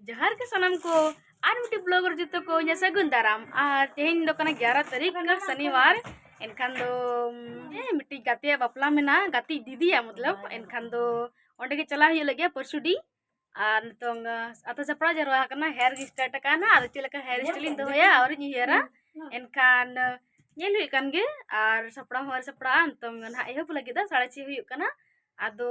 ᱡᱚᱦᱟᱨ ᱜᱮ ᱥᱟᱱᱟᱢ ᱠᱚ ᱟᱨ ᱢᱤᱫᱴᱤᱡ ᱵᱞᱚᱜ ᱨᱮ ᱡᱚᱛᱚ ᱠᱚ ᱤᱧᱟᱹᱜ ᱥᱟᱹᱜᱩᱱ ᱫᱟᱨᱟᱢ ᱟᱨ ᱛᱮᱦᱮᱧ ᱫᱚ ᱠᱟᱱᱟ ᱜᱮᱭᱟᱨᱟ ᱛᱟᱹᱨᱤᱠᱷ ᱠᱟᱱᱟ ᱥᱚᱱᱤᱵᱟᱨ ᱮᱱᱠᱷᱟᱱ ᱫᱚ ᱢᱤᱫᱴᱤᱡ ᱜᱟᱛᱮᱭᱟᱜ ᱵᱟᱯᱞᱟ ᱢᱮᱱᱟᱜᱼᱟ ᱜᱟᱛᱮ ᱫᱤᱫᱤᱭᱟᱜ ᱢᱚᱛᱞᱚᱵ ᱮᱱᱠᱷᱟᱱ ᱫᱚ ᱚᱸᱰᱮ ᱜᱮ ᱪᱟᱞᱟᱣ ᱦᱩᱭᱩᱜ ᱞᱟᱹᱜᱤᱫ ᱯᱚᱨᱥᱩᱰᱤ ᱟᱨ ᱱᱤᱛᱚᱝ ᱟᱛᱳ ᱥᱟᱯᱲᱟᱣ ᱡᱟᱣᱨᱟ ᱟᱠᱟᱱᱟ ᱦᱮᱭᱟᱨ ᱜᱮ ᱥᱴᱟᱨᱴ ᱟᱠᱟᱱᱟ ᱟᱫᱚ ᱪᱮᱫ ᱞᱮᱠᱟ ᱦᱮᱭᱟᱨ ᱥᱴᱟᱭᱤᱞ ᱤᱧ ᱫᱚᱦᱚᱭᱟ ᱟᱹᱣᱨᱤᱧ ᱩᱭᱦᱟᱹᱨᱟ ᱮᱱᱠᱷᱟᱱ ᱧᱮᱞ ᱦᱩᱭᱩᱜ ᱠᱟᱱ ᱜᱮ ᱟᱨ ᱥᱟᱯᱲᱟᱣ ᱦᱚᱸ ᱟᱹᱣᱨᱤ ᱥᱟᱯᱲᱟᱜᱼᱟ ᱱᱤᱛᱚᱝ ᱱᱟᱦᱟᱜ ᱮᱦᱚᱵ ᱞᱟᱹᱜᱤᱫ ᱫᱚ ᱥᱟᱲᱮ ᱪᱷᱚᱭ ᱦᱩᱭᱩᱜ ᱠᱟᱱᱟ ᱟᱫᱚ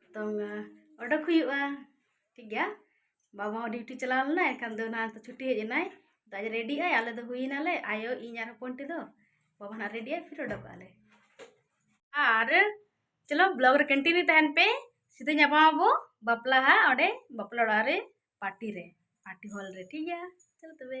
ᱱᱤᱛᱚᱝ ᱚᱰᱚᱠ ᱦᱩᱭᱩᱜᱼᱟ ᱴᱷᱤᱠ ᱜᱮᱭᱟ ᱵᱟᱵᱟ ᱦᱚᱸ ᱰᱤᱭᱩᱴᱤ ᱪᱟᱞᱟᱣ ᱞᱮᱱᱟᱭ ᱮᱱᱠᱷᱟᱱ ᱫᱚ ᱱᱟᱦᱟᱜ ᱪᱷᱩᱴᱤ ᱦᱮᱡ ᱮᱱᱟᱭ ᱛᱚ ᱟᱡ ᱨᱮᱰᱤᱜ ᱟᱭ ᱟᱞᱮ ᱫᱚ ᱦᱩᱭᱱᱟᱞᱮ ᱟᱭᱳ ᱤᱧ ᱟᱨ ᱦᱚᱯᱚᱱ ᱴᱤ ᱫᱚ ᱵᱟᱵᱟ ᱱᱟᱦᱟᱜ ᱨᱮᱰᱤᱜ ᱟᱭ ᱯᱷᱤᱨ ᱚᱰᱚᱠᱚᱜ ᱟᱞᱮ ᱟᱨ ᱪᱚᱞᱚ ᱵᱞᱚᱜ ᱨᱮ ᱠᱚᱱᱴᱤᱱᱤᱭᱩ ᱛᱟᱦᱮᱱ ᱯᱮ ᱥᱤᱫᱷᱟᱹ ᱧᱟᱯᱟᱢ ᱟᱵᱚ ᱵᱟᱯᱞᱟ ᱦᱟᱸᱜ ᱚᱸᱰᱮ ᱵᱟᱯᱞᱟ ᱚᱲᱟᱜ ᱨᱮ ᱯᱟᱨᱴᱤ ᱨᱮ ᱯᱟᱨᱴᱤ ᱦᱚᱞ ᱨᱮ ᱴᱷᱤᱠ ᱜᱮᱭᱟ ᱪᱚᱞᱚ ᱛᱚᱵᱮ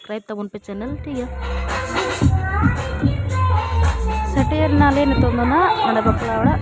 ᱥᱟᱵᱥᱠᱨᱟᱭᱤᱵ ᱛᱟᱵᱚᱱ ᱯᱮ ᱪᱮᱱᱮᱞ ᱴᱷᱤᱠ ᱜᱮᱭᱟ ᱥᱮᱴᱮᱨ ᱱᱟᱞᱮ ᱱᱤᱛᱚᱜ ᱫᱚ ᱱᱟᱜ ᱱᱚᱰᱮ ᱵᱟᱯᱞᱟ ᱚᱲᱟᱜ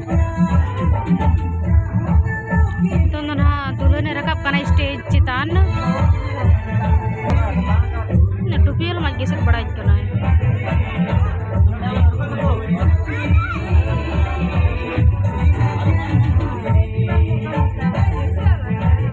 ᱱᱤᱛᱚᱝ ᱫᱚ ᱱᱟᱦᱟᱜ ᱫᱩᱞᱦᱟᱹᱱ ᱮ ᱨᱟᱠᱟᱵ ᱠᱟᱱᱟ ᱥᱴᱮᱡᱽ ᱪᱮᱛᱟᱱ ᱴᱩᱯᱤᱭᱟᱹᱞ ᱢᱟᱡᱽ ᱜᱮ ᱥᱮᱫ ᱵᱟᱲᱟᱭ ᱠᱟᱱᱟ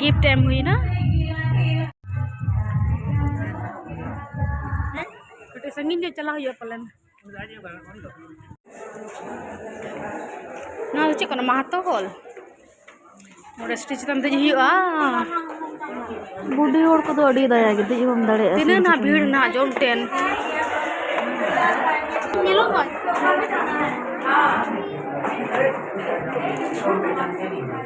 ᱜᱤᱯᱷᱴ ᱮᱢ ᱦᱩᱭᱱᱟ ᱠᱟᱹᱴᱤᱡ ᱥᱟᱺᱜᱤᱧ ᱧᱚᱜ ᱪᱟᱞᱟᱣ ᱦᱩᱭᱩᱜᱼᱟ ᱯᱟᱞᱮᱱ ᱱᱚᱣᱟ ᱫᱚ ᱪᱮᱫ ᱠᱟᱱᱟ ᱢᱟᱦᱟᱛᱚ ᱦᱚᱞ ᱱᱚᱰᱮ ᱥᱴᱮᱡᱽ ᱪᱮᱛᱟᱱ ᱫᱮᱡ ᱦᱩᱭᱩᱜᱼᱟ ᱵᱩᱰᱷᱤ ᱦᱚᱲ ᱠᱚᱫᱚ ᱟᱹᱰᱤ ᱫᱟᱭᱟ ᱜᱮ ᱫᱮᱡ ᱵᱟᱢ ᱫᱟᱲᱮᱭᱟᱜᱼᱟ ᱛᱤᱱᱟᱹᱜ ᱱᱟᱦᱟᱜ ᱵᱷᱤᱲ ᱱᱟᱦᱟᱜ ᱡᱚᱢ ᱴᱮᱱ ᱧᱮᱞᱚᱜ ᱠᱟᱱ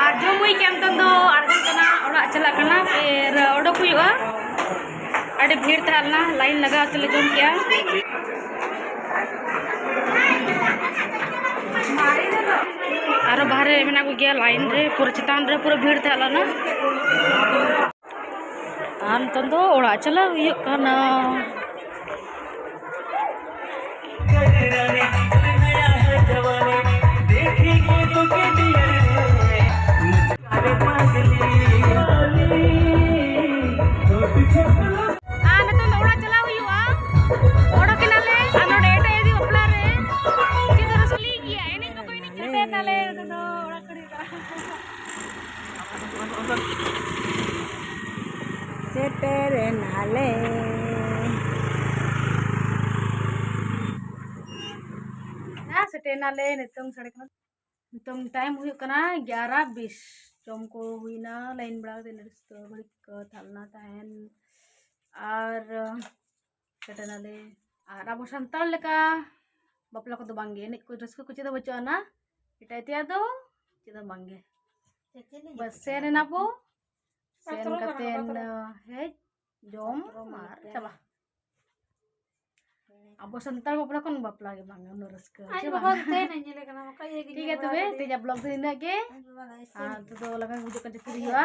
ᱟᱨ ᱡᱚᱢ ᱦᱩᱭ ᱠᱮᱫ ᱱᱤᱛᱚᱝ ᱫᱚ ᱟᱬᱜᱚᱱ ᱠᱟᱱᱟ ᱚᱲᱟᱜ ᱪᱟᱞᱟᱜ ᱠᱟᱱᱟ ᱯᱷᱤᱨ ᱚᱰᱚᱠ ᱦᱩᱭᱩᱜᱼᱟ ᱟᱹᱰᱤ ᱵᱷᱤᱲ ᱛᱟᱦᱮᱸ ᱞᱮᱱᱟ ᱞᱟᱭᱤᱱ ᱞᱟᱜᱟᱣ ᱛᱮᱞᱮ ᱡᱚᱢ ᱠᱮᱜᱼᱟ ᱟᱨᱚ ᱵᱟᱦᱨᱮ ᱢᱮᱱᱟᱜ ᱠᱚᱜᱮᱭᱟ ᱞᱟᱭᱤᱱ ᱨᱮ ᱯᱩᱨᱟᱹ ᱪᱮᱛᱟᱱ ᱨᱮ ᱯᱩᱨᱟᱹ ᱵᱷᱤᱲ ᱛᱟᱦᱮᱸ ᱞᱮᱱᱟ ᱟᱨ ᱱᱤᱛᱚᱝ ᱫᱚ ᱚᱲᱟᱜ ᱪᱟᱞᱟᱜ ᱦᱩᱭᱩᱜ ᱠᱟᱱᱟ ᱥᱮᱴᱮᱨᱮᱱᱟᱞᱮ ᱥᱮᱴᱮᱨᱮᱱᱟᱞᱮ ᱱᱤᱛᱚᱝ ᱥᱟᱲᱮ ᱠᱟᱱᱟ ᱱᱤᱛᱚᱝ ᱴᱟᱭᱤᱢ ᱦᱩᱭᱩᱜ ᱠᱟᱱᱟ ᱜᱭᱟᱨᱟ ᱵᱤᱥ ᱡᱚᱢ ᱠᱚ ᱦᱩᱭᱱᱟ ᱞᱟᱭᱤᱱ ᱵᱟᱲᱟ ᱠᱟᱛᱮ ᱱᱟᱨᱥ ᱫᱚ ᱜᱷᱟᱹᱲᱤᱡ ᱠᱚ ᱛᱟᱦᱮᱸ ᱞᱮᱱᱟ ᱛᱟᱦᱮᱱ ᱟᱨ ᱥᱮᱴᱮᱨᱱᱟᱞᱮ ᱟᱨ ᱟᱵᱚ ᱥᱟᱱᱛᱟᱲ ᱞᱮᱠᱟ ᱵᱟᱯᱞᱟ ᱠᱚᱫᱚ ᱵᱟᱝᱜᱮ ᱮᱱᱮᱡ ᱠᱚ ᱨᱟᱹᱥᱠᱟᱹ ᱠᱚ ᱪᱮᱫ ᱦᱚᱸ ᱵᱟᱹᱪᱩᱜ ᱟᱱᱟ ᱮᱴᱟᱜ ᱛᱮᱭᱟᱜ ᱫᱚ ᱪᱮᱫ ᱦᱚᱸ ᱵᱟᱝᱜᱮ ᱵᱟᱥ ᱥᱮᱱ ᱮᱱᱟ ᱵᱚ ᱥᱮᱱ ᱠᱟᱛᱮᱱ ᱦᱮᱡ ᱡᱚᱢ ᱟᱨ ᱪᱟᱵᱟ ᱟᱵᱚ ᱥᱟᱱᱛᱟᱲ ᱵᱟᱯᱞᱟ ᱠᱷᱚᱱ ᱵᱟᱯᱞᱟ ᱜᱮ ᱵᱟᱝ ᱩᱱᱟᱹᱜ ᱨᱟᱹᱥᱠᱟᱹ ᱴᱷᱤᱠ ᱜᱮᱭᱟ ᱛᱚᱵᱮ ᱛᱮᱦᱮᱧᱟᱜ ᱵᱞᱚᱜ ᱫᱚ ᱤᱱᱟᱹᱜ ᱜᱮ ᱟᱨ ᱱᱤᱛᱚᱜ ᱫᱚ ᱞᱟᱜᱟᱱ ᱵᱩᱡᱷᱟᱹᱜ ᱠᱟᱱ ᱡᱟᱹᱯᱤᱫ ᱦᱩᱭᱩᱜᱼᱟ